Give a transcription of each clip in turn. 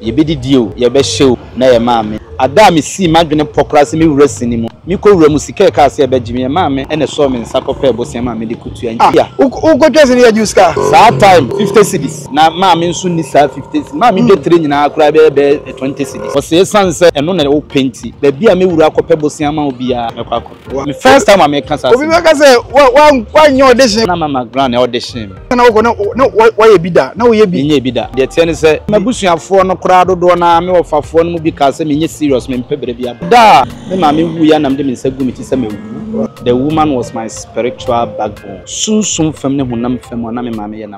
Yebedidi o, yɛbɛhyɛ o, na yɛn maame. Ada a misii m'adwene pɔ koraa sɛ me wura si ne mu. Mekɔ wura mu, sika a ɛkaa sɛ ɛbɛgye me, yɛn maame na ɛsɔɔ me nsa kɔpɛɛ bosea maa mede kotua. Ntia. Wo kɔtwa sini yɛ gye wo sika. Saa time, fifty cedis. Na maame nso nni saa fifty cedis. Maame dwetire nyinaa koraa bɛyɛ bɛyɛ twenty cedis. Ɔse esiane sɛ ɛno na wopɛ nti, baabi a me wura kɔpɛ bosea ma wo biara, mɛkɔ akɔ. Me first time a me kasa ase. Obi bɛ ka sɛ wa wa wa nyɛ audition. Na mama grand na audition mi. Na wokɔ na na wɔyɛ bi da na woyɛ bi. Nyɛ bi da. Deɛ teɛ ne sɛ m'abusuafoɔ no koraa dodoɔ no ara me wɔfafoɔ no mu bi kaa sɛ menyɛ serious mempɛ bere bi aba. Da a me maame wuiɛ a na mede me nsa gu me ti sɛ mawu. The woman was my spiritual backbone. Sunsum fam ne honam fam a na me maame yɛ na.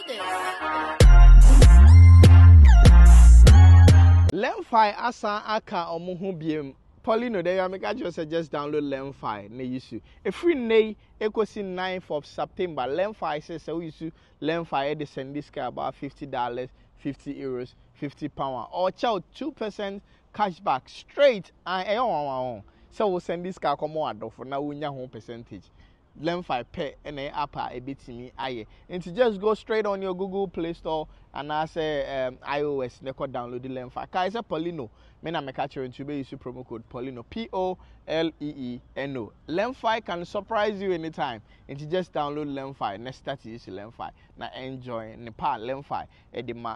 Lemfi asan aka ɔmo ho biom. Poly no dɛ ya meka kyerɛ wo sɛ just download Lemfi na yisu. Ɛfiri nnɛ yi ɛkɔsi ninth of September Lemfi sɛ sɛ wo yisu Lemfi ɛde sɛndi sika about fifty dollars, fifty euros, fifty pound a ɔɔkyɛ wo two percent cash back straight and ɛyɛ nwanwa ho sɛ wo sɛndi sika kɔma w'adɔfo na wo nya ho percentage Lemfi pɛ na ɛyɛ app a ebetumi ayɛ. Nti just go straight on your Google Play Store anaasɛ um, iOS na ɛkɔ download Lemfi. Kae sɛ Paulino, me na meka kyerɛ nti wobɛyi so promo code Paulino, P-O-L-E-E-N-O. Lemfi can surprise you anytime. Nti just download Lemfi na start use Lemfi na enjoy ne pa Lemfi ɛde ma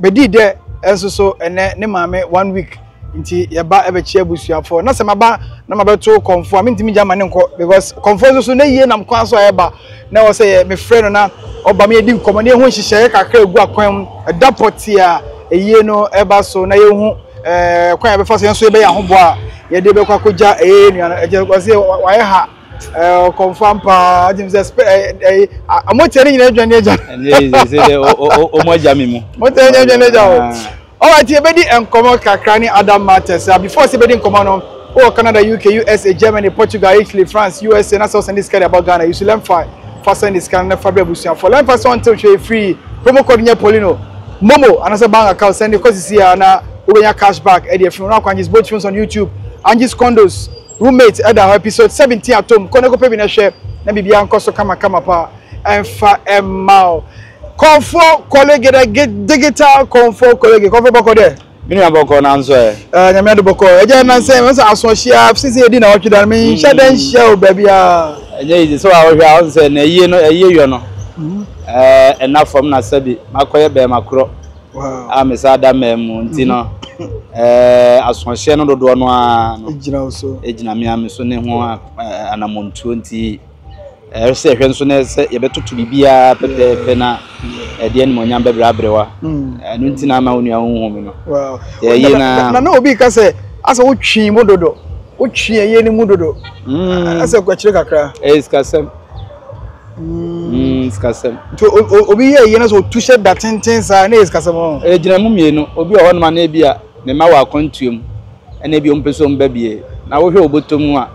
Bedi dɛ nso so ɛnɛ ne maame one week nti yɛba ɛbɛkyia abusuafoɔ na sɛ maba na mabɛto kɔmfoɔ a mentumi gya ma ne nkɔ because kɔmfoɔ nso so na yie nam kwan so a ɛba na ɛwɔ sɛ yɛ mefrɛ no na ɔba ma yɛdi nkɔmmɔ na yɛhu nhyehyɛeɛ kakra egu akwan mu ɛda pɔtee a ɛyie no ɛba so na yɛhu ɛɛ kwan a yɛbɛfa so yɛn nso yɛbɛyɛ ahoboa a yɛde bɛkɔ akɔgya ɛyɛ yɛn nua no ɛkyɛ wɔsi wayɛ ha. ɛɛ kɔnfam paa adi sɛ spɛ ɛɛ ɛɛ a mo tiɛ ne nyinaa adwane agya. ɛnna yi sɛ sɛ de o o o mo agya mi mu. mo tiɛ ne nyinaa adwane agya o. ɔwɔ ti ebedi nkɔmɔ kakra ne adam matters a before sɛ ebedi nkɔmɔ no wɔ canada uk usa germany portugal italy france usa na sɛ ɔsɛn de sika de abɔ ghana yusu lɛnfa fa sɛn de sika no na fa bere abusuafo lɛnfa sɛ ɔntew hwɛ efiri promo code nyɛ polino momo anasɛ bank account sɛn de kɔ sisi a na wobɛnya cash back ɛde afiri wɔn akwan just both films on youtube angie's condos Roommate ɛda hɔ episode seventeen atom kɔ na kɔpɛ bi na hwɛ na biribiara nkɔ so kama kama paa ɛnfa ɛmma o kɔnfoɔ kɔle gedege digital kɔnfoɔ kɔle ge kɔnfoɔ bɔkɔ dɛ. Me nua bɔkɔ nanso ɛ. Ɛɛ nyame ado bɔkɔ ɛgya nansa wɔn sɛ aso ɔhyia sisi edi na ɔtwe dan me nhyɛ dɛ nhyia o baabi a. Ɛnyɛ easy so a ɔhwɛ a ɔn sɛ na ɛyie no ɛyie yɔ no ɛɛ ɛna fam na sɛbi makɔyɛ bɛɛma korɔ. a mesan da mmaa mu nti no asoɔhyeɛ no dodoɔ no ara no ɛgyina me a me so ne ho anammɔntuo nti ɛyɛ sɛ ɛhwɛ nso ne sɛ yɛbɛtoto biribiara pɛpɛɛpɛ na ɛde animuonyam bɛbrɛ aberewa ɛno nti na ama wo nua wohu me no ɛyɛ na na na obi ka sɛ asɛ wotwee mu dodo wotwee ɛyɛ no mu dodo asɛ kwakyire kakra ɛyɛ sikasɛm Mm, sikasɛm. Nti obi yɛ yie na sɛ otu hyɛ da tenten saa na yɛ sikasɛm ɔn. Ɛgyina mu mmienu. Obi wɔ hɔnom a na ebi a ne mma wɔ akwantuo mu ɛna ebi wɔn pɛ sɛ wɔn ba bie na wohwɛ wɔ bɔtɔ mu a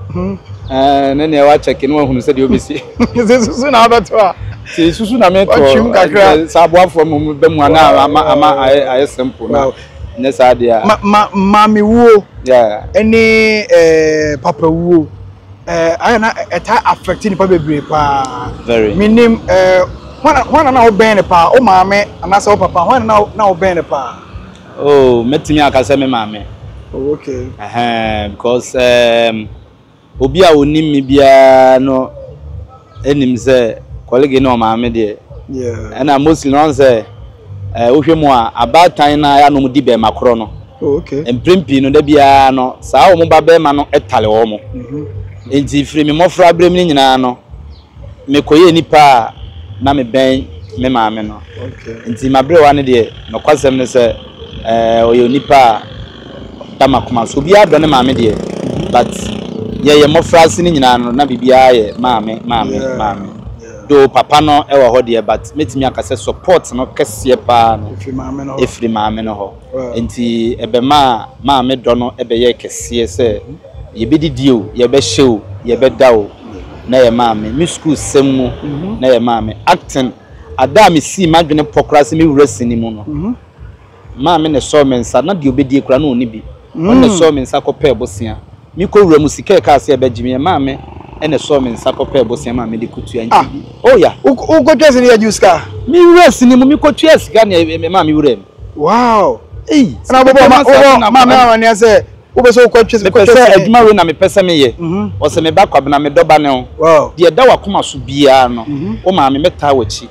ɛɛ ne nea wakyɛke na wahunu sɛdeɛ obesi. Sɛ susu na abɛto a. Sɛ susu na mɛto ɔtwim kakra. Sɛ aboafoɔ mu bɛ mu ana ama ama ayɛ ayɛ simple na ne saa deɛ. Ma ma maame wuo. Yeah. Ɛne ɛɛ papa wuo. ɛɛ ayɛ na ɛtaa affect nipa bebree paa very menim ɛɛ hwan na na wobɛn no paa wo maame anaasɛ wo papa hwan na na wobɛn no paa oh mɛtumi aka sɛ me maame oh, okay ɛhɛn because um, obi a onim me biara no nim sɛ kɔlege ne ɔmaame deɛ ɛna mostly no sɛ eh, wohwɛ mu a abaatan no ayɛ nom di bɛrima korɔ no oh, mprem pii no da biara no saa wɔn ba bɛrima no tale wɔn mo mhm. nti firi me mmɔfra berɛ mu no nyinaa no mekɔyɛ nipa a na mebɛn me maame no nti maberewa no deɛ nokwasɛm no sɛ eh, ɔyɛ onipa a da m'akoma so. Obiara dɔ ne maame deɛ, but yɛyɛ mmɔfra ase no nyinaa no, na biribiara yɛ maame, maame, maame. Though papa no wɔ hɔ deɛ, but mɛtumi aka sɛ support no kɛseɛ paa no, ɛfiri maame no hɔ. Nti ɛbɛmaa maame dɔ no bɛyɛɛ kɛseɛ sɛ yɛbɛdidi o, yɛbɛhyɛ o, yɛbɛda o, na ɛyɛ maame. Me sukuusɛm mu, na ɛyɛ maame. Acting, ada a mesii m'adwene pɔ koraa sɛ mɛwura sini mu no, Maame na ɛsɔɔ me nsa, na deɛ ɔbɛdie koraa na ɔnni bi. Ɔno na ɛsɔɔ me nsa kɔpɛɛ bosea. Mekɔ wura mu, sika a ɛkaa sɛ ɛbɛgye me yɛ maame na ɛsɔɔ me nsa kɔpɛɛ bosea maa mede kɔtua nkyɛ bi. Oh ya! Wokɔtwaa sini yɛ gyew sika? Me wura sini mu, mekɔtuaa sika na ɛmaa me wuraa mu. Wow! Ei! Ɛna wobɔbɔɔ maame amaneɛ sɛ wopɛ sɛ wokɔtwa sika? Mepɛ sɛ adwuma wei na mepɛ sɛ meyɛ. Ɔse, Me ba Kwabena, medɔ ba no. Deɛ ɛda w'akoma so biara no, wo maame mɛtaa w'akyi.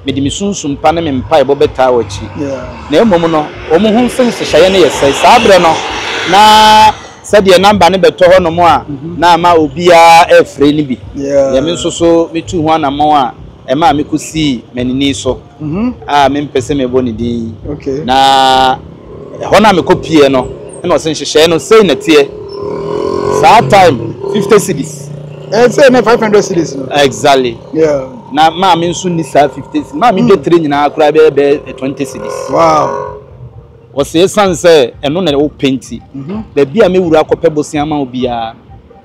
Mede me sunsum pa ne me mpaebɔ bɛtaa wo akyi. Na mmom no, wɔn ho mfe nhyehyɛeɛ no yɛ sɛe. Saa berɛ no, na sɛdeɛ namba no bɛtɔ hɔnom a na ama obiara refrɛ no bi, deɛ me nso so metuu ho anammɔn a ɛmaa mekɔsii m'anini so a mempɛ sɛ mebɔ ne din yi. Na. Ɛhɔ no a mekɔpueɛ no na ɔse nhyehyɛeɛ no sei na ɛteɛ saa time. Fifty cedis. Eh, say na five hundred cedis no. Exactly. Yeah. Na maame nso ni saa fifty cedis. Maame de hmm. tire nyinaa koraa bɛyɛ bɛyɛ twenty cedis. Wow. Wɔsɛ esan sɛ ɛno na ɛwɔ penti. Mhm. Baabi a mewura akɔpɛ bosia ma obiara.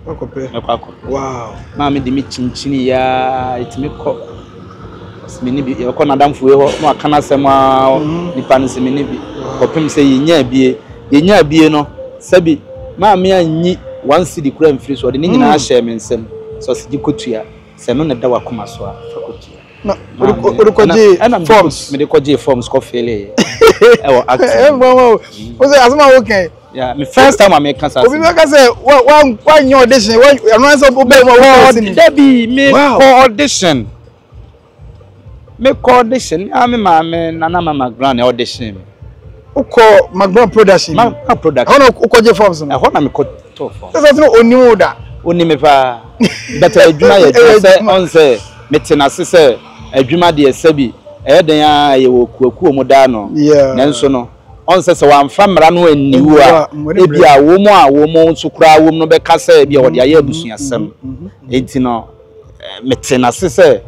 Mɛkɔ akɔ. Maame de me kyinkyini yɛ ara ɛtumi kɔ. Ɔse me ne bi yɛkɔ n'adamfo wei hɔ na waka n'asɛm ara mhm. nipa no se me ne bi kɔpem sɛ yɛnya abie yɛnya abie no sɛbi maame anyi one cedi kura mfiri so ɔde ne nyinaa mhm. hyɛɛ me nsam sɛ ɔse gye kɔtua sɛ no na ɛda wakoma so a fa kɔtua ɛna mede kɔgyee forms kɔfeeleeɛ ɛwɔ actmama o sɛ asɛm a wokɛn Yeah, my first time I make cancer. Obi make us say, what, what, what your audition? What, I'm not so good. Debbie, me wow. for audition. Me call audition. I mean, my man, Nana, my grand audition. Uko Magron production. Magron production. Ono uko je forms no. Ehona me ko to form. Sasa tino oni wo da. Oni me pa. But adwuma ye adwuma se on se me tena se se adwuma de se bi. Eh den a ye wo kuakuo mu da no. Yeah. Nanso no. Ɔnsɛ sɛ wɔamfa mmara no anni wo a, ebia wɔn a wɔn nso koraa wom no bɛka sɛ ebia wɔde ayɛ abusuasɛm. Enti no, metee no ase sɛ,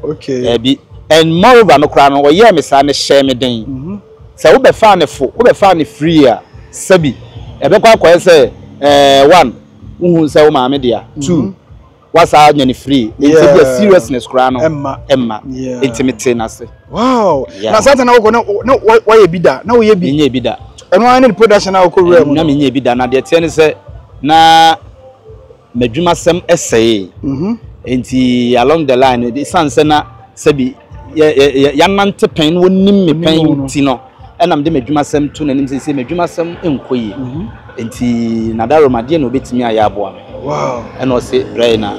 Dabi. And moreover no koraa no, wɔyɛɛ me saa no, ɛhyɛɛ me den. Sɛ wobɛfaa no fo, wobɛfaa no free a, sɛbi ɛbɛkɔ akɔyɛ sɛ, eh, one, wohuu sɛ wo maame dea, two, wasaa nya ne free nti bia seriousness koraa no ɛmma ɛmma nti me te n'ase. wow na saa tana wokɔ na na wɔyɛ bi da na woyɛ bi nyɛ bi da ɛno ara ne the production a wokɔ wura mu na me nyɛ bi da na deɛ teɛ ne sɛ na m'adwuma sɛm ɛsɛe mhm. nti along the line esan sɛ na sɛbi yɛ yɛ yɛ yanante pɛn wɔnim me pɛn ti no. Ɛna mede m'adwumasɛm to n'anim seesei m'adwumasɛm nkɔ yie nti Nadaro ma deɛ na ɔbɛtumi ayɛ aboa me ɛna ɔse brɛ na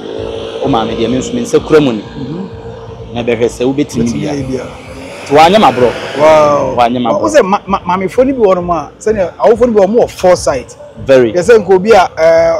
wo maame deɛ me nso me nsa kura mu ni na ɛbɛhwɛ sɛ wobɛtumi bia nti wanyɛ maborɔ wanyɛ maborɔ. Wo sɛ maamefoɔ no bi wɔ nom a sɛdeɛ awofoɔ no bi wɔ mo wɔ foresight very yɛ sɛ nka obi a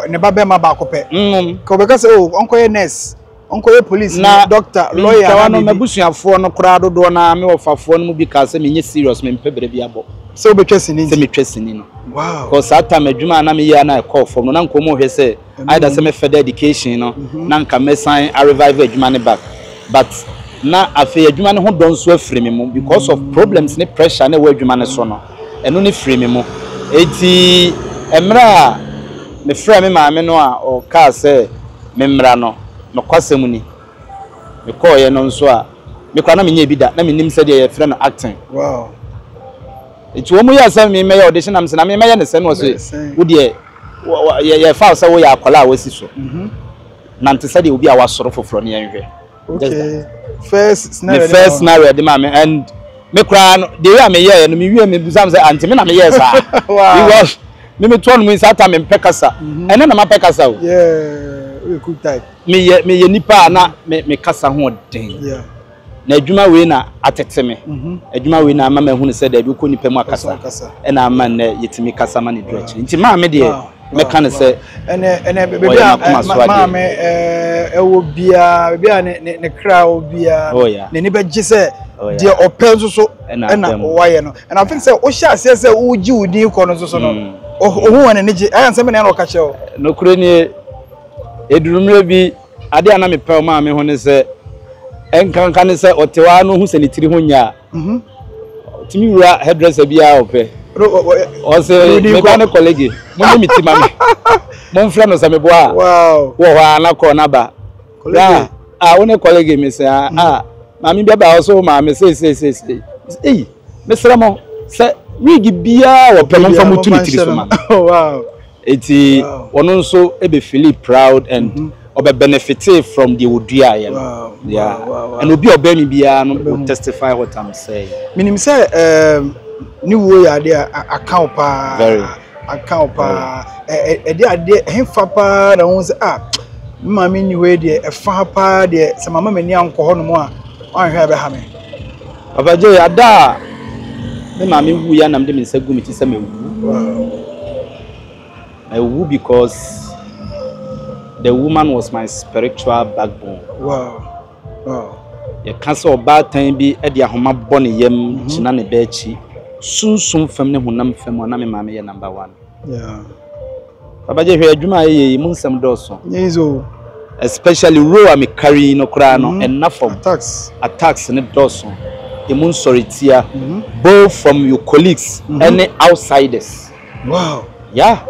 ne ba bɛrima baako pɛ nka ɔbɛka sɛ o ɔnkɔyɛ nurse. ɔnkɔyɛ polisini, Na dɔkta, me lɔya nkawa anaa no, biribi. m'abusuafoɔ no koraa dodoɔ no ara, me wɔfafoɔ no mu bi kaa sɛ menyɛ serious, mempɛ bere bi abɔ, Sɛ wobɛtwa sini sɛ nti. metwa sini no. Wow. Because saa time adwuma a na meyɛ ara na ɛkɔɔ fam no, na nka wɔhwɛ sɛ Ɛno either na sɛ mu. me further education no, na nka mɛsan a revive adwuma no back. But na afei adwuma no ho dɔ nso afiri me mu because of problems ne pressure a na ɛwɔ adwuma no so no. Ɛno no firii me mu. Enti mmerɛ a mefrɛɛ me maame no a ɔkaa sɛ memmra no, nokwasɛm ni, mekɔeɛ no nso a, me koraa na menyɛɛ bi da, na mennim sɛdeɛ yɛfrɛ no acting. Enti wɔn yɛɛ sɛ memmɛyɛ audition na mese na memmɛyɛ no sɛn, na wɔse wo deɛ yɛfa wo sɛ woyɛ akwadaa a wasi so, nante sɛdeɛ obi a wasɔre foforɔ na yɛnhwɛ. okay first scenario the first scenario de ma me and me koraa no deɛ yɛ a me yɛɛ no me wie me busam sɛ ante me na me yɛɛ saa because me me toɔ no mu nsa ata me mpɛ kasa mhm. ɛnɛ na ma pɛ kasa o me yɛ me yɛ nipa a na me me kasa ho den na adwuma wei na atete me mhm. adwuma wei na ama ma ehunu sɛ dɛbi kɔ nipa mu akasa ɛna ama nnɛ yɛtumi kasa ma ne duro akyiri nti maa me deɛ. mɛka no sɛ ɔyɛ m'akoma so adeɛ. maame ɛwɔ biara baabi a ne ne ne kra wɔ biara oh, n'ani bɛgye sɛ oh, deɛ ɔpɛ nso so ɛna wɔayɛ no ɛna afei sɛ wohyɛ aseɛ sɛ wogye wo din kɔ no nso so no mm. ohun wɔn ani gye ayɛ nsɛm na ɛna ɔka kyerɛ wo. nokore nie edurumire bi adeɛ a na mepɛ ɔmaa me ho ne sɛ ɛnkanka ne sɛ ɔte hɔ ara no ho sɛ ne tiri ho nyɛ a Mhm. Tumi wura hairdresser bi a ɔpɛ. Ɔsɛ meba ne kɔlege. Mo ne me ti ma me. Mo nfrɛ no sɛ me boa. Wow. Wɔ hɔ a na kɔɔ na ba. Ra a wo ne kɔlege me sɛ a a maame bi aba ɔsɛ wo maame sɛ sɛ sɛ sɛ. Ei mesrɛ mo sɛ wig biara wɔpɛ mo nfa mo tu ne tiri so ma. Wow. Enti ɔno nso be feeli proud and ɔbɛ benefitee from deɛ ɔduaeɛ no. Yeah. And obi a ɔbɛn me biara no will testify what I'm saying. Menim sɛ um, ne wuo yɛ adeɛ a aka wo paa. Very. Aka wo paa. Ɛde adeɛ, hefa paa na wohu sɛ, ah, me maame nni hɔ yi deɛ, ɛfa ha paa deɛ, sɛ mama m'ani ankɔ hɔnom a, wanhwɛ a ɛbɛha me. Papa Gyei, Ada a me maame wuiɛ a na mede me nsa gu me ti sɛ mɛwu. Mɛwu because the woman was my spiritual backbone. Wow. Wow. Yɛka sɛ ɔbaatan bi de ahoma bɔ ne yam mhm. gyina ne bɛ akyi. Sunsum fam ne honam fam a na me maame yɛ number one. Yeah. Babagye hwɛ adwuma a yɛyɛ yi mu nsɛm dɔɔso. Nyɛ easy o. Especially row a me carry yi no koraa no ɛnna fam. Attacks. Attacks no dɔɔso. Emu nsɔretia both from your colleagues ɛne outsiders. Wow. Yeah.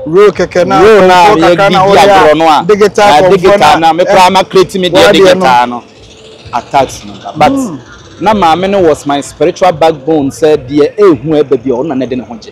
Row kɛkɛ na Row na kɔnkɔn kakra na yɛdi ɔyɛ a, agorɔ no a, digital ah, kɔnkɔn digital na na me koraa ma create me deɛ W'adeɛ no. digital no. Attacks no ba but na maame no was my spiritual backbone sɛ deɛ ɛrehu ɛreba biara ɔno na na ɛde ne ho gye.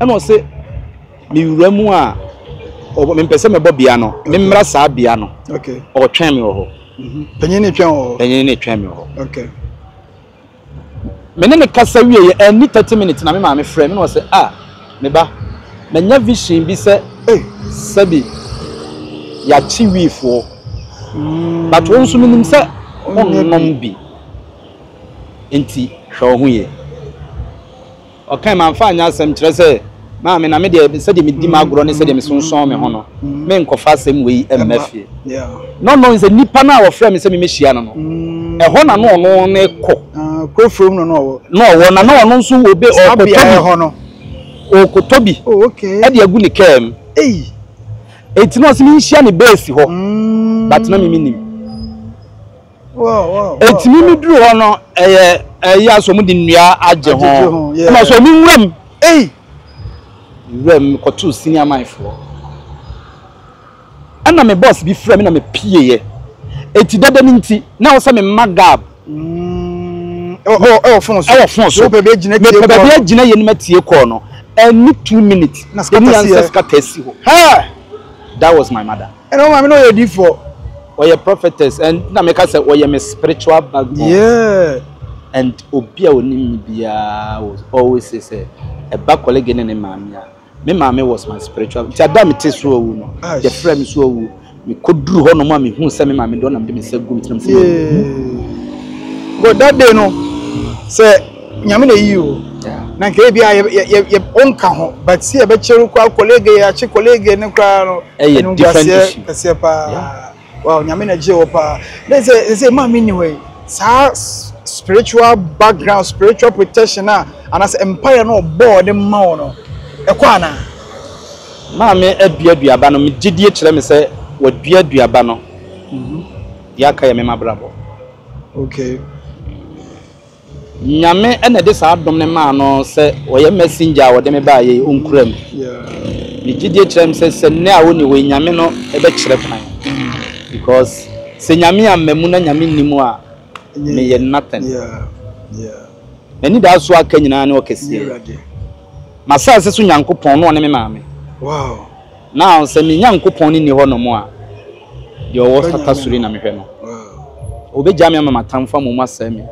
Ɛna ɔse, mewura mu a, ɔbɔ, mempɛ sɛ mɛbɔ bea no, memmra saa bea no. Okay. Ɔtwɛn me wɔ hɔ. Panyin no twɛn wɔ hɔ. Panyin no twɛn me wɔ hɔ. Okay. Me ne ne kasa wie yɛ, anni thirty minutes na me maame frɛ me na ɔse, ah, me ba, manya vision bi sɛ, Ei! sɛbi yɛakye wiifoɔ, but wo nso menim sɛ wonnom bi, nti hwɛ wo ho yie. Ɔkae, Mamfa anyɛ asɛm, kyerɛ sɛ, Maame, na me deɛ, sɛdeɛ medi m'agorɔ ne sɛdeɛ mesonsɔn me ho no, merenkɔfa asɛm wei mma fie. Ná ɔno ahu sɛ nipa no a wɔfrɛɛ me sɛ memmɛhyia no no, ɛhɔ na na ɔno rekɔ. Kuro foforo mu na na ɔwɔ. Na ɔwɔ, na na ɔno nso obe, ɔrekɔtɔ bi. Ɔrekɔtɔ bi de agu ne kaa mu. Enti na ɔse menhyia no bɛɛsi hɔ, but na me mennim. Enti me me duru hɔ no ɛyɛ ɛyi a so de nnua agye ho ɛma so me nwuram ei nwuram kɔtoo senior man foɔ ɛna me boss bi frɛ me na me pie yɛ eti dada no nti na ɔsɛ me mma gab ɛwɔ fon so ɛwɔ fon so mepɛ baabi agyina yɛ no matie kɔɔ no ɛni two minutes ɛni ansa sika tɛsi hɔ that was my mother. Ɛna ɔma me na ɔyɛ difoɔ. Ɔyɛ prophetess and na meka sɛ ɔyɛ me spiritual backbone. Yeah. And obi a onim me biara was always say sɛ ɛba colleague ne ne maame a me maame was my spiritual nti ada me te so awu no yɛfrɛ me so awu mekɔduru hɔ nom a mehu sɛ me maame dɔ na mede me nsa gu me tirim sɛ yeah. But that day no sɛ Nyame na eyi o na nka ebi a yɛ yɛ o nka ho but sɛ yɛbɛkyɛ no koraa colleague yɛakye colleague no koraa no animguaseɛ kɛseɛ paa wow Nyame na gyee wɔ paa na sɛ sɛ maa menni hɔ yi saa spiritual background spiritual protection a anaasɛ mpaeɛ no ɔbɔɔ de ma wo no ɛkɔ anaa maame adua duaba no megye die kyerɛ me sɛ wadua duaba no deɛ aka yɛ me mabrabɔ okay Nyame na ɛde saa dom no maa no sɛ ɔyɛ messenger a ɔde me baa yɛ yi ɔnkura mu. Me gyidie kyerɛ me sɛ sɛ nnɛ a ɔnni hɔ yi Nyame no bɛkyerɛ kwan because sɛ Nyame amma mu na Nyame nni mu a meyɛ nothing. M'anidaso a aka nyinaa ne ɔkɛseɛ, m'asaase so Nyankopɔn na ɔne me maame. Now sɛ me Nyankopɔn no nni hɔnom a, deɛ ɔwɔ sata soro yi na mehwɛ no. Ɔbɛgyaa me ama m'atamfo ama wɔn asɛe me.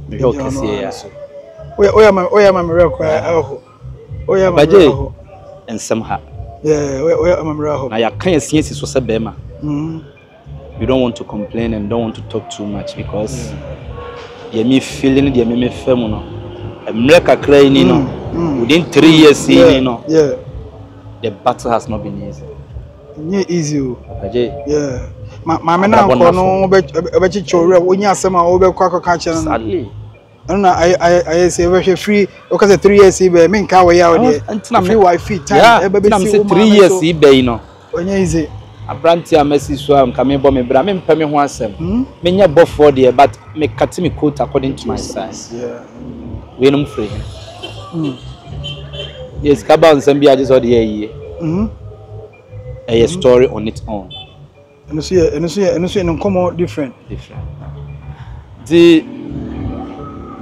Mehwɛ wo kɛseɛ yi ara. Woyɛ ma woyɛ ma me werɛ kɔ aho. Woyɛ ma me werɛ aho. Nsɛm ha. Yeah, woyɛ ma me werɛ aho. Na yɛaka yɛn se asi so sɛ bɛrima. Mm. you don't want to complain and you don't want to talk too much because deɛ me feel ne deɛ me me fɛ mu no mmerɛ kakra yi ni no mm, mm. within three mm, years yi ni no the battle has not been easy. nye easy o. ɛgye yeah maame na nkɔ no ɔbɛkyekyɛ owurɛ wonye asɛm a ɔbɛkɔ akɔka kyerɛ no. sadly. ɛno na ayɛ ayɛ ayɛ sɛ ɛbɛhwɛ firi ɔka sɛ three years yi bɛyɛ mi nka wɔyɛ awo deɛ ntina mi firi wa firi time yeah ɛbɛ ntina mi bɛ si sɛ wo three maa mi years so yi bɛ yi no ɔnyɛ yize aberanteɛ a masi so a nka mebɔ me bra mempɛ me ho asɛm hmm menyɛ bɔfoɔ deɛ but mekate me coat according to my jesus size yeah weinom firi he hmm yɛ sika ba wo nsɛm bi agye sɛ ɔde yɛ ayie hmm ɛyɛ hmm story on its own Ɛno nso yɛ ɛno nso yɛ ɛno nso yɛ ne nkɔmɔ different. Different. Ti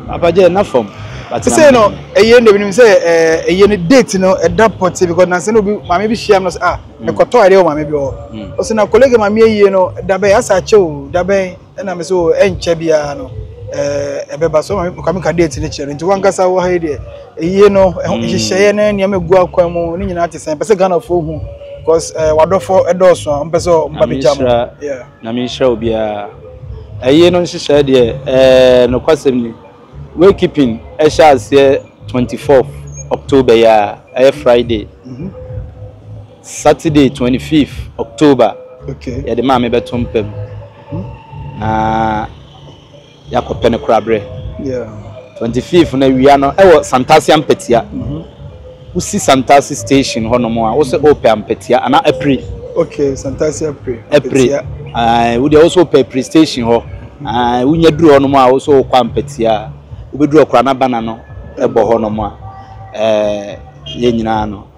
abagye na fam. Sɛ no ɛyɛ ndɛ binom sɛ ɛyɛ ne date no ɛda pɔte because na sɛ no bi maame bi hyia no sɛ ah ɛkɔtɔ adeɛ wɔ maame bi hɔ. Ɔsɛ na colleague maame ayie no dabɛn asa akyɛ o dabɛn. Ɛna me sɛ o ɛnkyɛ biara no ɛɛ ɛbɛba so maame kwame ka date ne kyerɛ nti wankasa wɔ ha yi deɛ ɛyie no ɛho mm. nhyehyɛeɛ ne nneɛma egu akwan mu ne nyinaa te sɛn pɛ sɛ ghanafoɔ hu because ɛɛ eh, wadɔfoɔ ɛdɔɔso a ɔmpɛ sɛ ɔmba bi gya mu na me nhyira obiara ɛyie no nhyehyɛeɛ deɛ ɛɛ eh, nokwasɛm ni way keeping ɛhyɛ aseɛ 24 october yi a ɛyɛ friday mm -hmm. Saturday twenty fifth October yɛde maa me bɛto mpa mu na yɛakɔ pɛ no korabrɛ twenty fifth na awia no ɛwɔ Santase Ampatia wosi Santase station hɔ nom a wosɛ ɔpɛ Ampatia ana apiri okay Santase apiri apiri ɛɛ wodeɛ wosɛ ɔpɛ apiri station hɔ ɛɛ wonya duru hɔ nom a wosɛ ɔkɔ Ampatia wobɛduru ɔkora na bana no ɛbɔ hɔ nom a ɛɛ yɛn nyinaa no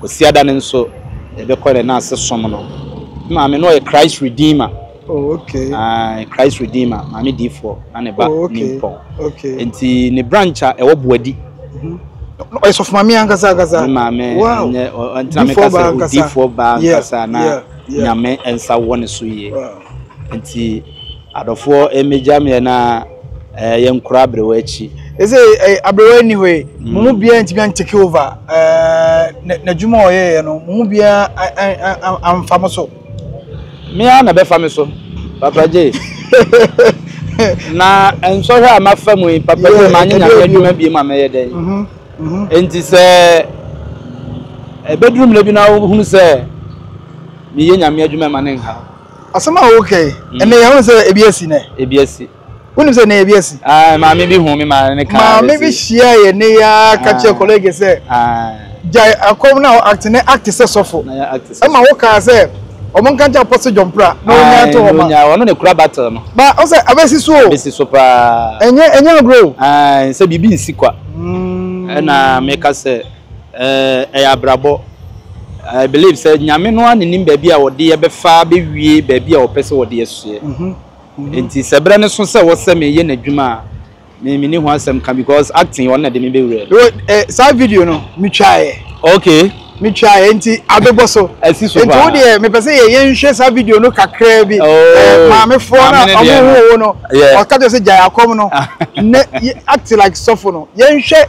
Kwasiada no nso yɛbɛkɔ ne n'ase som no. Me maame no ɔyɛ Christ Redeemer. Oh, okay. Uh, Christ Redeemer, Maame Difoɔ, na ne ba oh, okay. Nimpɔn. Okay. Nti ne branch a ɛwɔ Buadi. Mm-hmm. Ɔyɛ sɔfo maame ankasa ankasa. Ne maame wow. nyɛ ɔntena mi kasa odifoɔ ba ankasa na nyame nsa wɔ ne so yie. Nti Adɔfoɔ mmegya meɛ na yɛnkora aberewa akyi. Seesei aberewa nni hɔ yi, mo mu biara antumi antake over n'adwuma a ɔyɛeɛ no, mo mu biara amfa mo so. Me ara na ɛbɛfa me so, Papa J. Na nsɔhwɛ a mafa mu yi, Papa J, manyɛ Nyame adwuma biom a mɛyɛ dɛn? Enti sɛ ɛbɛduru mmerɛ bi na wohunu sɛ meyɛ Nyame adwuma a, mma no nnhaw. Asɛm a woka yi, ɛnnɛ yɛahu sɛ ebi asi nnɛ? Ebi asi. Wonim sɛ nnɛ ebi asi? Ae, maame bi huu me ma ne kaa bɛsi. Maame bi hyia yɛn ne yɛ ara ka kyerɛ kɔlege sɛ, gyae akɔm na act ne act sɛ sɔfo. Ɛma wokaa sɛ, wɔn nka nkyɛ Apostle John Prah na ɔnyaa nto hɔ ma. Ɔno na ekura battle no. Ba, ɔn sɛ abɛsi so o. Abɛsi so paa. Ɛnyɛ ɛnyɛ agorɔ o. Ae, sɛ biribi nsi kwa. Ɛna meka sɛ. ɛyɛ abrabɔ. I believe sɛ Nyame no ara na nim baabi a ɔde yɛ bɛfa abɛwie baabi a ɔpɛ sɛ ɔde yɛ soɛ. Nti sɛ berɛ no so sɛ wɔ sɛ meyɛ n'adwuma a, me me ni ho asɛm ka because acting ɔno na ɛde me bɛwura mu. Eh, saa video no me twaeɛ. Okay. Me twaeɛ nti abɛbɔ so. Asi so paa. Nti wo deɛ mepɛ sɛ yɛ yɛnhwɛ saa video no kakraa bi. Oh. Eh, maamefoɔ na ɔmo ho wo no. Yeah. Ɔka kyerɛ sɛ gyae akɔm no. Ne act like sɔfo no. Yɛnhwɛ.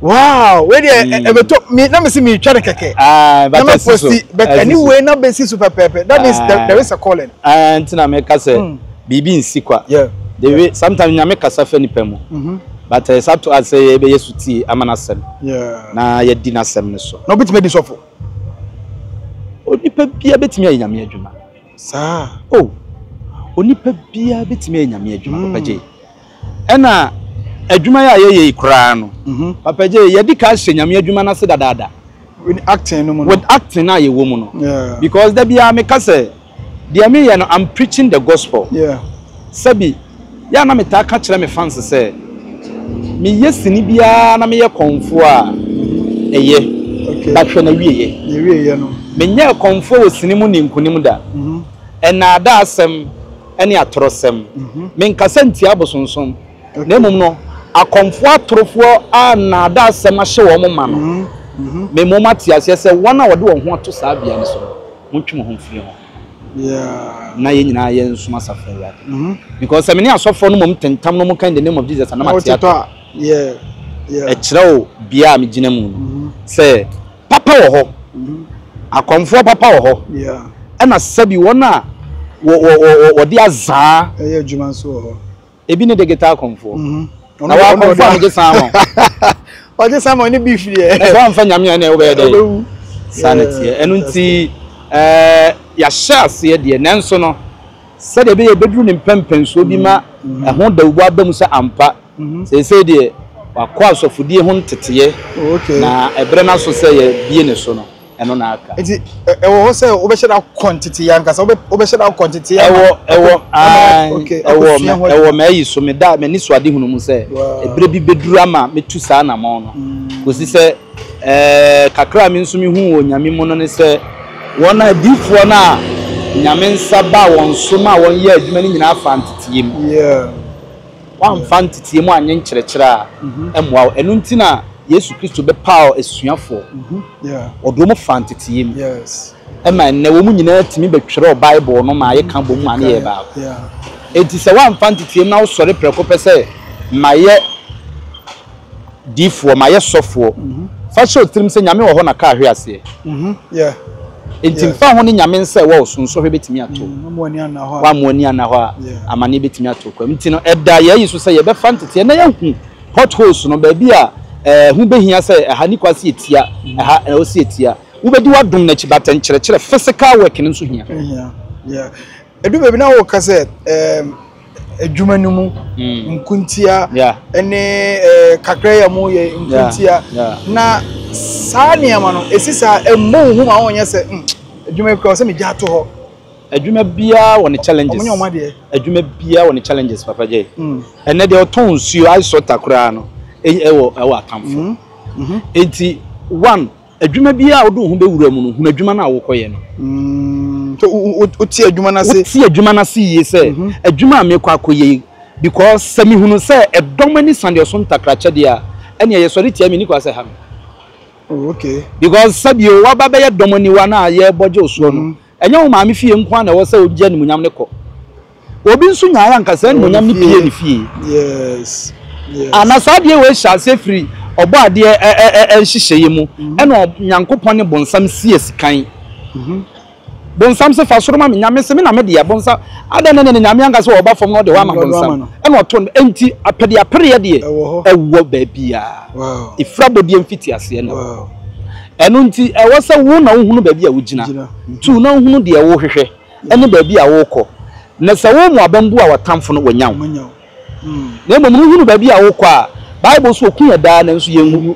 wow wei deɛ mm. ɛbɛtɔ mi na mi si mi twa ne kɛkɛ ah, na ma posti but anyway na bɛ si so pɛpɛɛpɛ that means there, ah. there is a calling. Ah, nti na mi ka sɛ hmm. biribi nsi kwa the way sometimes nyame kasa fɛ nipa mu mm-hmm. but ɛsɛ eh, ato asɛ yɛ bɛ yɛ su tie ama na sɛm na yɛ di na sɛm ne so. na obi tuma di sɔfo. onipa bia bɛtumi ayɛ nyame adwuma. Saa o! Onipa biara betumi ayɛ Nyame adwuma, Papa Jay. Ɛna adwuma yi a yɛyɛ yi koraa no, Papa Jay, yɛadi kan ahyɛ Nyame adwuma no ase dadaada. With acting no mu no. With acting no a yɛwɔ mu no. Because da biara meka sɛ, deɛ meyɛ no, I'm preaching the gospel. Sɛbi. Yɛ a na metaa ka kyerɛ me fans sɛ meyɛ sini biara na meyɛ kɔmfoɔ a, ɛyɛ. But hwɛ n'awieeɛ. Menyɛɛ kɔmfoɔ wɔ sini mu nnii nkonim da. Nnaadaasɛm ne atorɔsɛm. Menkasa ntia abosonsom, na mmom no, akɔmfoɔ atorofoɔ a nnaadaasɛm ahyɛ wɔn ma no, mema wɔate aseɛ sɛ wɔn a wɔde wɔn ho ato saa bea no so no, montwe mo ho mfiri ho. Yeah. na yɛn nyinaa yɛ nsom asafo awurade mm-hmm. because sɛ me ne asɔfoɔ no mom tentam no mo ka in the name of jesus anam ate ato ɛkyerɛ o bia a megyina mu no mm-hmm. sɛ papa wɔ hɔ mm-hmm. akɔmfoɔ papa wɔ hɔ ɛna sɛbi wɔn a wɔde azaa ɛyɛ adwuma nso wɔ hɔ ebi ne digital kɔnfoɔ na wɔn akɔnfoɔ a wɔgye san ma wɔn. wɔgye san ma wɔn ne bi firi yɛ. na sɛ wɔn nfa nyame a ɛna ɛwɔ bɛyɛ dɛ. ɔbɛwu saa na teɛ ɛno nti ɛɛ yɛahyɛ aseɛ deɛ nanso no sɛdeɛ ɛbɛyɛ ɛbɛduru ne mpɛmpɛnsoɔ bi ma ɛho dawubɔ aba mu sɛ ampa seesei deɛ wakɔ asɔfodie ho nteteɛ na ɛberɛ no aso sɛ yɛbie ne so no. ɛno na aka. Nti ɛwɔ hɔ sɛ wobɛhyɛ da kɔ ntetee ankasa, wobɛhyɛ da kɔ ntetee ama. Ɛwɔ ɛwɔ ae ɛwɔ mɛ ɛwɔ m'ayi so me da m'ani so ade hunu mu sɛ ebire bi bɛduru ama metu saa anamɔn no mm. kɔsi sɛ ɛɛ kakra a me nso me hu wɔ nyame mu no ne sɛ wɔn a diifoɔ no a nyame nsa ba wɔn so ma wɔn yɛ adwuma no nyinaa fa ntetee mu. Yeah. Woamfa nteteɛ mu annye nkyerɛkyerɛ a ɛmmoa wo. Ɛno nti na Yesu Kristo bɛpaw asuafoɔ. Wɔde wɔn faa nteteɛ mu. Ɛma ɛnnɛ wɔn nyinaa tumi bɛtwerɛ Bible no ma yɛka bom ma no yɛ baako. Enti sɛ woamfa nteteɛ mu na wosɔre prɛko pɛ sɛ mayɛ. Difoɔ, mayɛ sɔfoɔ. Fa hyɛ wo tirim sɛ Nyame wɔ hɔ na kaa hwe aseɛ. Enti mfa ho ne Nyame nsɛ wɔ wo so, nsɔhwɛ bɛtumi ato wo. Wammu ani anna hɔ a. Wammu ani anna hɔ a, amaneɛ bɛtumi ato wo kwam. Nti no, ɛda yɛayi so sɛ yɛbɛfa nteteɛ na yɛahu pot holes no, baabi a ɛho bɛhia sɛ ɛha nni kwan sɛ yɛtia, ɛha ɛwɔ sɛ yɛtia. Wobɛdi w'adom no akyi, but nkyerɛkyerɛ, physical work no nso hia. Ɛhia, yeah. Ɛdu baabi na woka sɛ, um, adwuma no mu nkontia ne kakra yi a wɔyɛ nkontia na saa nneɛma no ɛsi saa ɛmmɔ wo hu ma wonyɛ sɛ adwuma yi kora sɛ megya ato hɔ adwuma biara wɔ ne challenges ɔmo ɔmo deɛ adwuma biara wɔ ne challenges papa gye ɛnɛ deɛ ɔtɔn nsuo ice water koraa no ɛwɔ ɛwɔ atamfo eti one Adwuma biara a wode wo ho bɛwura mu no, hunu adwuma no a worekɔyɛ no. So wote adwuma no ase? Wote adwuma no ase yie sɛ, adwuma a merekɔ akɔyɛ yi, because sɛ mehunu sɛ ɛdɔm ani sa deɛ ɔso ntakrakyɛ deɛ a, ɛnneɛ yɛsɔre tia, menni kwan sɛ ɛha me. Because sɛdeɛ woaba abɛyɛ dɔm aniwa no a yɛrebɔ gye wo soɔ no, Ɛnyɛ wo maame fie nko ara na ɛwɔ sɛ ogye animuonyam no kɔ. Obi nso nyae a anka saa animuonyam no pue ne fie. A Na saa adeɛ wei hyɛ aseɛ firi Ɔbɔadeɛ nhyehyɛeɛ mu ɛna Onyankopɔn ne bonsam sie sekan. Bonsam se, Fa soro ma me, Nyame se, Me na me deɛ. Bonsam, Adɛn na ɛnna ne Nyame anka sɛ ɔba fam na ɔde hɔ ama bonsam? Ɛna ɔto no. Enti apɛdeapereɛ deɛ ɛwɔ baabiara. Efiri abɔdeɛ mfitiaseɛ na ɛwɔ hɔ. Ɛno nti, ɛwɔ sɛ wo na wohunu baabi a wugyina, two, na wohunu deɛ worehwehwɛ ne baabi a worekɔ. Na sɛ wo mmoabam bu a, w'atamfo no, wɔanya wo. Na mmom no, wohunu baabi a worekɔ a, Bible se, Wɔku yɛn daa, nanso yɛnwu.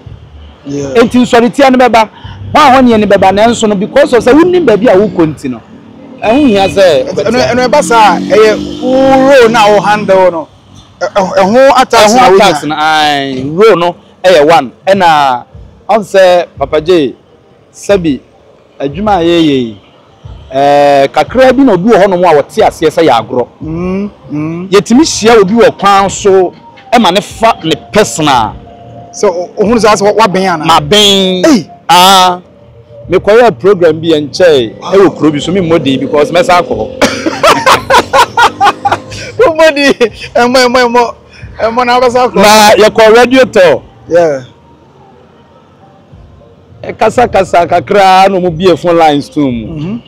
Enti nsɔretia no bɛba, hɔ a hɔnnyɛ no bɛba, nanso no, because of sɛ wonim baabi a worekɔ nti no, ɛho hia sɛ wɔbɛteɛ. Ɛno ɛno ɛba saa a, ɛyɛ wo role no a wo handle no, ɛho attacks na wonya. Ɛho attacks no, aye, role no. Ɛyɛ one ɛna ɔn sɛ papa gyee sɛbi adwuma a yɛɛyɛ yi ɛɛ kakraa bi na obi wɔ hɔ nom a ɔte aseɛ sɛ yɛ agorɔ yɛtumi hyia obi wɔ kwan so ma no fa ne personal. Sɛ ohunu sɛ asɛ wabɛn anaa. Mabɛn aa. Mekɔyɛɛ program bi ɛnkyɛe ɛwɔ kuro bi so memmɔ din because mɛsan akɔ hɔ. Wommɔ din ɛmmɔ ɛmmɔ ɛmmɔ ɛmmɔ na wobɛsan akɔ. Na yɛkɔ radio tɔ. Yeah. Ɛkasakasa kakraa na wɔn bie phone lines to mu. Mm -hmm.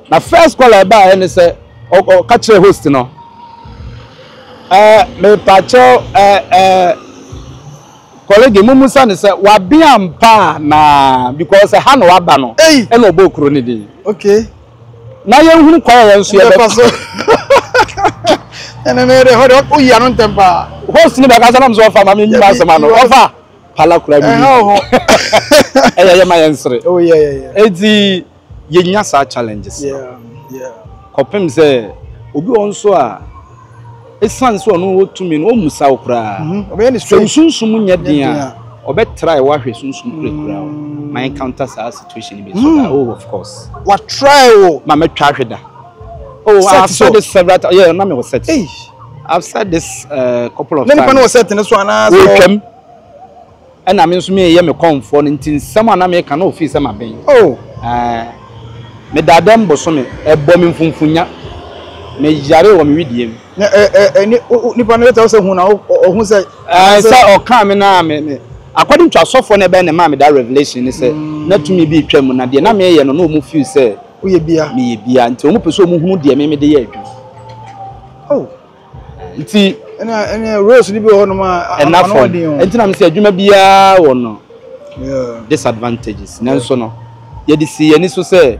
Na first call ɛba ayɛ ne sɛ ɔka kyerɛ host no. Ɛɛ mepaakyɛw ɛɛ ɛɛ. Kɔlege momusa no sɛ wabea ampa anaa because ɛha na waba no ɛna ɔbɔɔ kuro no din. Okay. Na yɛnhunu kwan a yɛn nso yɛbɛfa so. Ɛnɛ no yɛde hɔ de woyi ano ntɛm paa. Host no bɛkasa nam sɛ ɔfa ma me nyima asɛm ano ɔfa pala kura bi. Ɛha wɔ hɔ. Ɛyɛ yɛ ma yɛn sere. Oh yeah yeah yeah. Eti yɛnya saa challenges no kɔpem sɛ obi wɔ hɔ nso a ɛsiane sɛ ɔno wɔ tumi no ɔmmu sa wo koraa mhm. sɛ wo sunsum nyɛ den a ɔbɛtrae wahwɛ sunsum kure koraa mm. ma encounter saa situation bi so mm. ah, oh of course watrae wo ma mɛtwa ahwɛ da oh I've said this several times yeah na me wɔ set I've said this uh, couple of times na nipa no wɔ set ne so anaasɛ wɔtwam Ɛna me nso mereyɛ me kɔmfoɔ no nti nsɛm a na mereka no fii sɛ maben. O! Ɛɛ! Me daadam bosome, ɛbɔɔ me mfumfunnya, me yaree wɔ me wedeɛ mu. Na ɛ ɛ ɛ ni o o nipa no bɛtɛw sɛ hu na o o ɔhu sɛ. Ɛɛ sɛ ɔkaa me na me me. According to asɔfoɔ no ɛbɛyɛ na ɛmaa me daa revelation ne sɛ na tumi bi retwa mu na deɛ na mereyɛ no na wɔn feel sɛ. Woyɛ biaa. Meyɛ biaa nti wɔn pɛ sɛ wɔn hunu deɛ me mede yɛ adwuma. O! nti. ɛna ɛna roles ni bi wɔ hɔnom a ɛna fam nti na mesɛ adwuma biara wɔ no disadvantages nanso no yɛde si yɛn ani so sɛ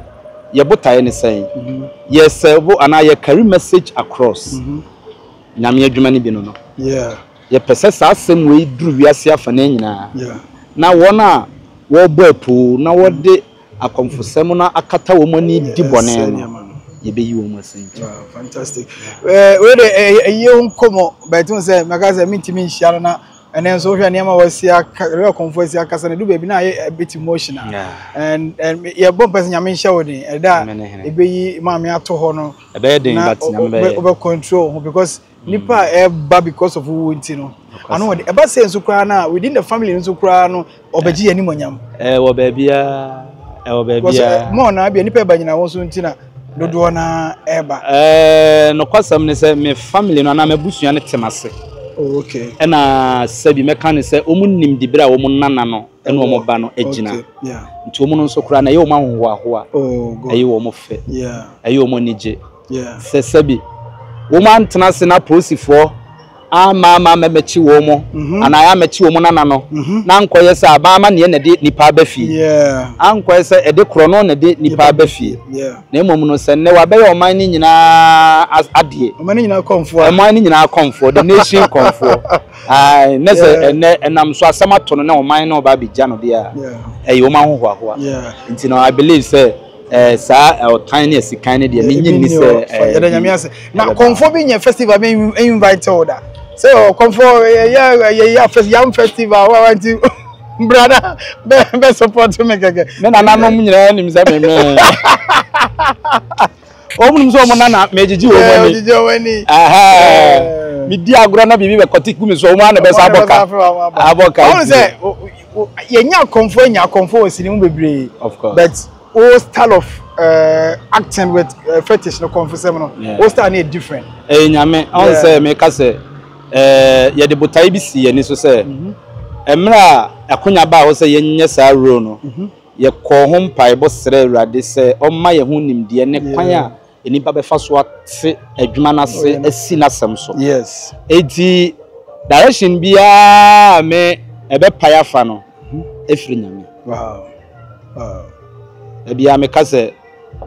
yɛ botaeɛ ne sɛn mm-hmm. yɛ sɛbo anaa yɛ carry message across mm-hmm. nyame adwuma no bi no no yɛpɛ sɛ saa asɛm wei duru wiase afa no nyinaa na wɔn a wɔbɔ apuu na wɔde Akɔmfosɛm no akata wɔn ani di bɔne no, yebeyi wɔn asi nkyɛn. Ah, fantastic. Eh, wei de eh, eh, ɛyɛ wo nkɔmmɔ, but wo sɛ mɛka sɛ mentumi nhyia no na ɛnɛ nso wohwɛ nneɛma a wɔasi aka ɛyɛ ɔkɔmfo asi akasa no ɛdu baabi na ayɛ a bit emotional Yeah. and and yɛbɔ mpɛ sɛ nyame nhyɛ wo den ɛda a Amen, amen. ɛbɛyi maame ato hɔ no Ɛbɛyɛ den, na but wo- Nyame wo- bɛyɛ. wobɛ control wo ho because nipa a ɛba because of wo nti no ano wɔde ɛba sɛ nso koraa na within the family nso koraa no ɔbɛgye yɛn animonyam. ɛɛ wɔ baabi a ɛwɔ baabi a. mo ɔnaa bi a nipa ɛba nyina wɔn so nti na dodoɔ na ɛba. ɛɛ nɔkɔsɛm ne sɛ me family no anaa me busua no tem ase. Oh, okay. ɛna sɛbi mɛka ne sɛ wɔn nim dibere a wɔn nana no ɛna wɔn ba no agyina nti wɔn nso koraa na ɛyɛ wɔn ahohoahoa oh, ɛyɛ wɔn fɛ ɛyɛ wɔn anigye. sɛ sɛbi wɔantena ase na apolisifoɔ amma ama ammɛmɛkye wɔn anaa ammɛkye wɔn nana no, na ankɔyɛ sɛ aban amanneɛ na ɛde nnipa aba fie, ankɔyɛ sɛ ɛde korɔno na ɛde nnipa aba fie, na mmom no, sɛ nnɛ wɔabɛyɛ ɔman no nyinaa adeɛ, ɔman no nyinaa kɔmfoɔ, ɔman no nyinaa kɔmfoɔ, the nation kɔmfoɔ, ae, na sɛ ɛnnɛ ɛnam so asɛm ato no na ɔman no reba abɛgya no deɛ a, ɛyɛ wɔn ahohoahoa, nti no, I believe sɛ. Eh, saa eh, ɔtan ne asikan ne deɛ menye nni sɛ eh, yɛda nyame ase na kɔmfoɔ bi nyɛ festival me invite wo da sɛ oh, kɔmfoɔ yɛyɛ yam festival wawanti brada bɛ support me kɛkɛ me nananom nyinaa nim sɛ memɛ wɔn nim sɛ wɔn nana megyegye wɔn ani medi agorɔ na biribi bɛkɔte gu me so wɔn ana bɛsa abɔka abɔka yɛnyɛ akɔmfoɔ anya akɔmfoɔ wɔ sini mu bebree but wo style of uh, acting with uh, fetish no kɔmfosɛm no wo style no yɛ different ɛyɛ nyame ɔn sɛ meka sɛ eh, yɛde botae bi si yɛni so sɛ mhm. mmerɛ a akonya baa hɔ sɛ yɛnyɛ saa role no mhm. yɛkɔɔ ho mpaebɔ srɛ awurade sɛ ɔmma yɛ ho nimdeɛ ne kwan a nnipa bɛfa so ate adwuma no ase asi n'asɛm so. Yes. Enti direction biara a me ɛbɛpae afa no ɛfiri Nyame. Wow. Wow. Ebia meka sɛ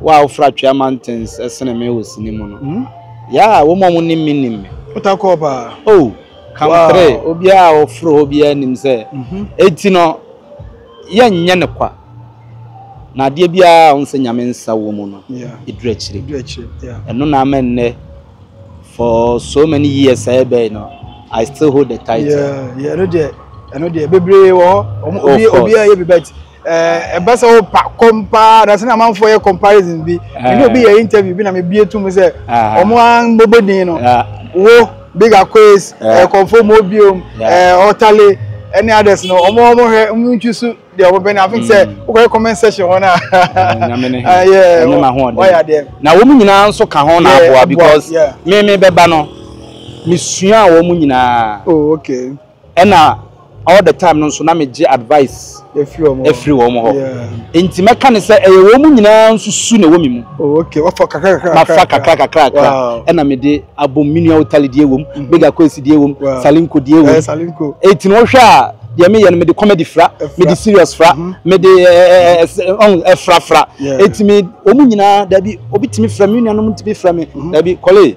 wo a wofra Twea Mountains ɛsene me wɔ sini mu no. Hmm? Yeah, wɔn a wɔnim me nim me. Wotakɔɔ paa. Oh, country. Wow. Obiara a ɔforo hɔ biara nim sɛ. Mhm. Eti no yɛnyɛ no kwa, na adeɛ biara a ɔhu sɛ Nyame nsa wɔ mu no, ɛduru akyire. Ɛno na ama nnɛ, for so many years a ɛbɛn no, I still hold the title. Yeah, yeah, ɛno deɛ, ɛno deɛ, bebree wɔ hɔ, obi a yɛ bi bɛt, ɛbɛ sɛ wo pa, kɔm paa, na sɛ na amanfoɔ yɛ comparison bi, ɛne obi yɛ interview bi na mebie to mu sɛ, ɔmo a mbɔbɔ din no, wo, Big Aquays, eh, Conformo biom, eh, Otale, any others no. Omo omo he, omo nchusu de omo bene. I think say, mm. okay, comment section ho na. Ah, yeah. Omo ma ho Why are there? Na omo nyina nso ka ho na aboa because me me beba no. Me sua omo nyina. Oh, okay. Ɛna all the time no nso na megye advice firi wɔn hɔ. Nti mɛka no sɛ ɛyɛ wɔn nyinaa nso su na ɛwɔ me mu. Mafa kakra kakra ɛna mede abom. Me nua Otali deɛ wɔ mu, Bega Kwesi deɛ wɔ mu, Salinko deɛ wɔ mu. Eti no wohwɛ a deɛ meyɛ no mede comedy fra, mede serious fra, mede ɛɛ fra fra. Eti me wɔn nyinaa dabi obi tumi frɛ me, me nuanom tumi frɛ me dabi Kɔlee.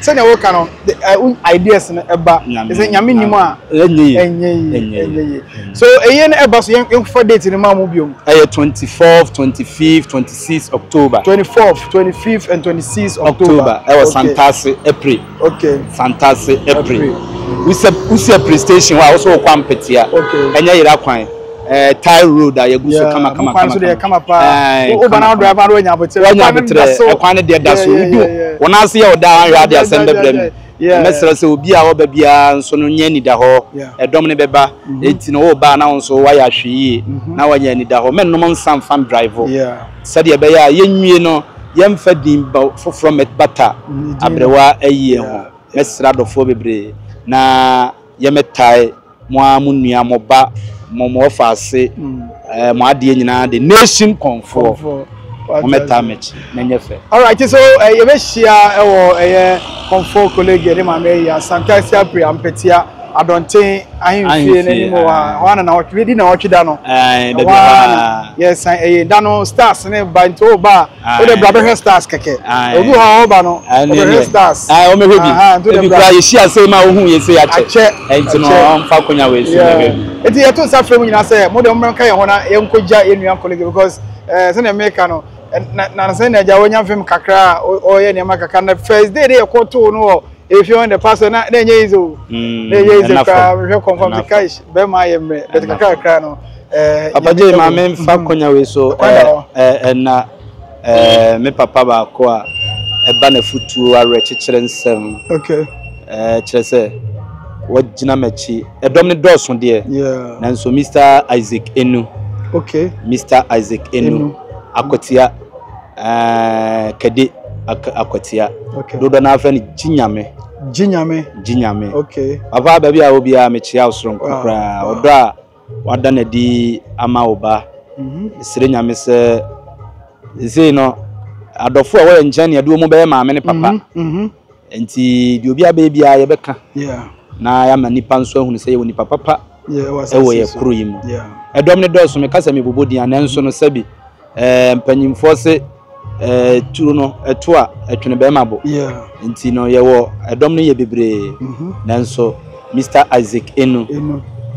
Sɛnea woka no the uh, wo ideas no ɛba te sɛ nyame nim a ɛnyɛ yi ɛnyɛ yi ɛnyɛ ɛnyɛ yi yi so ɛyɛ no ɛba so yɛn yɛnfa date no ma mu biom ɛyɛ twenty fourth twenty fifth twenty sixth october 24th 25th and 26th october october ɛwɔ okay santase ɛpre okay santase ɛpre april wusɛ wusɛ pre station hɔ a wosɛ wokɔ ampetea okay ɛnyɛ yera kwan Eh, Thai road a yɛgu so kama kama kama so deɛ kama paa eh, wo ba na drive ma wanya abotere wanya abotere ɛkwan ne deɛ da so wodu wɔn ase yɛ ɔda ahwɛ ade asɛm bɛbrɛ mu mɛsrɛ sɛ obi a ɔba biara nso no nyɛ anida hɔ ɛdɔm ne bɛba mhm. eti na ɔba na nso wayɛ ahwɛ yie mhm. na wanya anida hɔ mɛnnom nsa nfa drive sɛdeɛ ɛbɛyɛ a yɛnwie no yɛmfa din ba foforɔ mɛbata mhm, aberewa ayie ho mɛsrɛ adɔfoɔ bebree na yɛmɛtae mo ara mo nua mo ba mo mo ɔfa ase ɛɛ mo adeɛ nyinaa de nation kɔnfoɔ mo mɛtaa mɛkyi mɛnyɛ fɛ. alright so eh, yɛbɛhyia ɛwɔ ɛyɛ kɔnfoɔ kolegi ɛde maame ayi asante ase apiri ampɛtia adɔnten ahemfie n'anim wɔ ha hɔ ana na ɔtwe di na ɔtwe da no ɛɛ bɛbi hɔ a yɛsan ɛyɛ da no stars ne ba nti o ba a. Wode bra bɛhwɛ stars kɛkɛ. Obi hɔ a ɔba no, ɔbɛhwɛ stars. Ae, ɔmɛhwɛ bi. Ebi kura yɛhyia ase ma ohu yɛ se akyɛ. Akyɛ. Nti no ɔmfa konya wei so mɛhwɛ bi. Nti yɛto nsa frɛ mo nyinaa sɛ mo deɛ mommra nka yɛn ho na yɛnkɔgya yɛn nua Nkolege because eh, sɛdeɛ meka no na na sɛ na agya wanya mfem kakra a ɔyɛ nneɛma kakra na first day de yɛkɔtoo no wɔ If you want the pastor, na na enye ize o. Mm, na enye ize kra, me hwe confirm the kai be ma ye mre. Bet kakra kra no. Eh, Papa J ma me fa mm-hmm. konya we so eh, eh eh na eh me papa ba ko a ɛba na futuo awerɛ kyekyere nsɛm okay eh kyerɛ sɛ wɔgyina m'akyi ɛdɔm ne dɔɔso deɛ nanso mr isaac enu okay mr isaac enu akotia Ɛɛ kɛde akwatia dodo na afɛ no gye nyame gye nyame gye nyame okay papa baabi a obi a mekyia wo soronko ah, koraa ah. ɔdɔ a wada na di ama wo ba mhm. sere nyame sɛ sei no adɔfo a wɔyɛ nkyɛn ne ɛde wɔn bɛyɛ maame ne papa mhm, mhm. Enti deɛ obiara bɛyɛ biara yɛbɛka na yɛama nnipa nso ahunu sɛ yɛwɔ nnipa papa wɔ yɛn kuro yi mu. Ɛdɔm no dɔɔso, meka sɛ mebobɔ din a, nanso no sɛbi eh, mpanyinfoɔ se eh, turo no ɛto a ɛtwene bɛrima bo. Nti no yɛwɔ ɛdɔm no yɛ bebree, mhm. nanso Mr Isaac Enu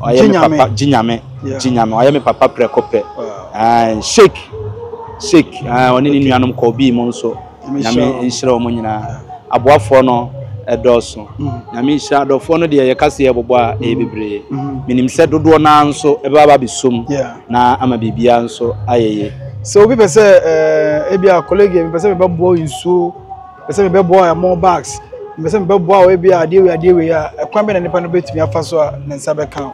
ɔyɛ me papa Gyinyame Gyinyame ɔyɛ me papa prɛko pɛ. Shake shake ɔne ne nuanom kɔɔ bii mu nso. nyame nhyira wɔn nyinaa aboafoɔ no ɛdɔɔso nyame nhyira adɔfoɔ no deɛ yɛka sɛ yɛbobɔ a ɛyɛ bebree menim sɛ dodoɔ no ara nso ɛbɛba ba bɛsom na ama biribiara nso ayɛ yie sɛ obi pɛ sɛ eh, ebi a colleague mepɛ sɛ mebɛboa nsuo pɛ sɛ mebɛboa ɛmo bags mepɛ sɛ mebɛboa wɔ ebi a adeɛ wei adeɛ wei a ɛkwan bɛ na nipa no bɛtumi afa so a ne nsa bɛka o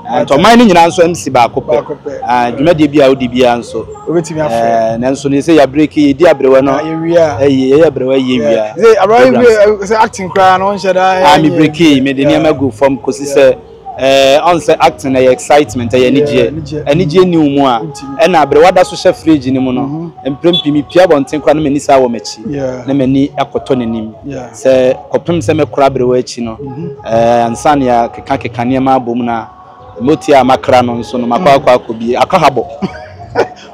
Nto ɔman no nyinaa nso amsi baako pɛ. Dwumadie bi a wodi biara nso. Wobɛtumi afrɛ. Nanso no sɛ yɛabreki, yɛdi aberewa no. Yɛwie a. Yɛyɛ aberewa yi yɛwie a. Sɛ aberewa yi wie sɛ acting koraa no wonhyɛ da. Ah me breki, mede nneɛma gu fam kɔsi sɛ ɔn sɛ acting ɛyɛ excitement, ɛyɛ anigyeɛ. Anigyeɛ nni wo mu a, ɛna aberewa da so hyɛ fridge no mu no, mprempren mepue abɔnten koraa na m'ani san wɔ m'akyi na m'ani akɔtɔ n'anim. Sɛ kɔpem sɛ mɛkora berewa akyi no, ansa na yɛakeka keka nneɛma abɔ mu no a, motia a makra no nso no, makɔ akɔ akɔ bie, akɔ ha bɔ.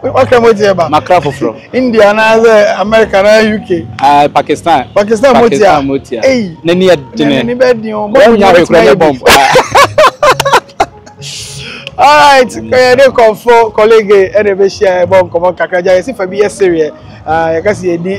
Wakra motia ba? Makra foforɔ. India anaasɛ America anaa UK? Ah, Pakistan. Pakistan motia? Pakistan motia. Ei! N'ani yɛ dene. N'ani bɛ den o. Wɔn nyɛ ahwekora ne bɔmb. alright kɔyɛ ne nkɔmfo kɔlege ɛna ɛbɛhyia ɛbɔ nkɔmɔ kakra gya yɛsi fa bi yɛ sereɛ yɛka sɛ yɛdi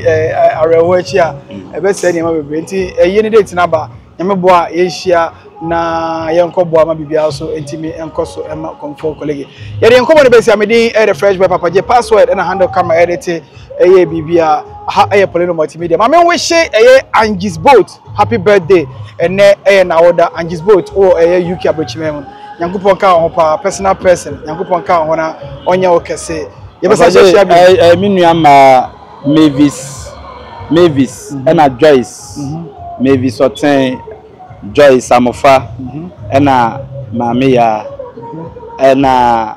awerɛhoɔ akyi a ɛbɛsɛe nneɛma bebree nti ɛyɛ ne date no aba nyame boa yɛnhyia na yɛnkɔ boa ma biribiara so ɛntumi ɛnkɔ so ɛma nkɔmfo kɔlege yɛde nkɔmɔ no bɛsi a medin ɛyɛ fresh boy papa gye password ɛna handle kama ɛde te ɛyɛ biribi a ha ɛyɛ polynomati media ma menwehye ɛyɛ angis boat Happy birthday ɛnɛ yɛ nawoda Angie's boat wo ɛyɛ UK abrokyimɛ mu nyankopɔn nka wo ho paa personal person nyankopɔn nka wo ho na ɔnyɛ wo kɛse yɛbɛsa hyɛ hyia bi. Ɛyɛ me nua mmaa Mavis Mavis ɛna Joyce Mavis Ɔtɛn Joyce Amofa ɛna Maame Yaa ɛna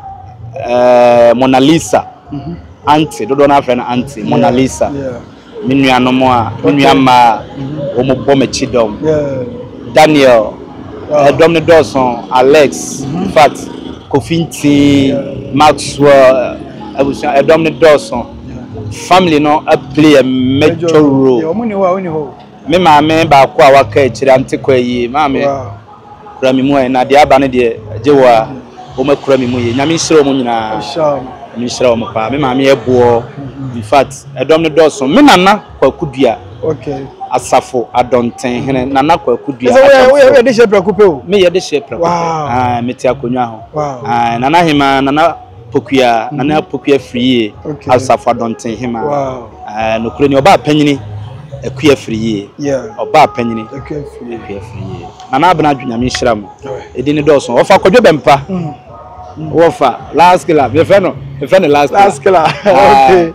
ɛɛ Mona Lisa aunty dodoɔ no ara frɛ no aunty Mona Lisa. me nuanom a, me nua mmaa a wɔbɔ m'akyi dɔm. Daniel, eh, dɔm no dɔɔso, Alex, in fact, Kofi Nti, Maxwell, eh, abusua, eh, dɔm no dɔɔso. Family no a play a major role. Me maame baako a waka akyire ante kɔ ayie, maame. Kura me mu ɛ na deɛ aba no deɛ gye wo a wɔn akura me mu yie nyame nhyira wɔn nyinaa nyame nhyira wɔn paa me maame yɛ boɔ in fact ɛdɔm no dɔɔso me nana kwaku dua okay asafo adɔnten hene nana kwaku dua yɛ de hyɛ prɛko pɛ o me yɛ de hyɛ prɛko pɛ me te akonnwa ho nana hema nana Pokuya, Nana Apoku Afiriyie, Asafo Adɔnten Hema. Ɛɛ nokorɛ ni ɔbaa panyini Aku Afiriyie. Ɔbaa panyini Aku Afiriyie. Nana Abena Adwo Nyame nhyira mo. Ɛdi ne dɔɔso. Wɔfa Kwadwo Bɛmpa. Wɔfa Last Killer. Mefrɛ no mefrɛ no Last Killer. Last Killer. Okay.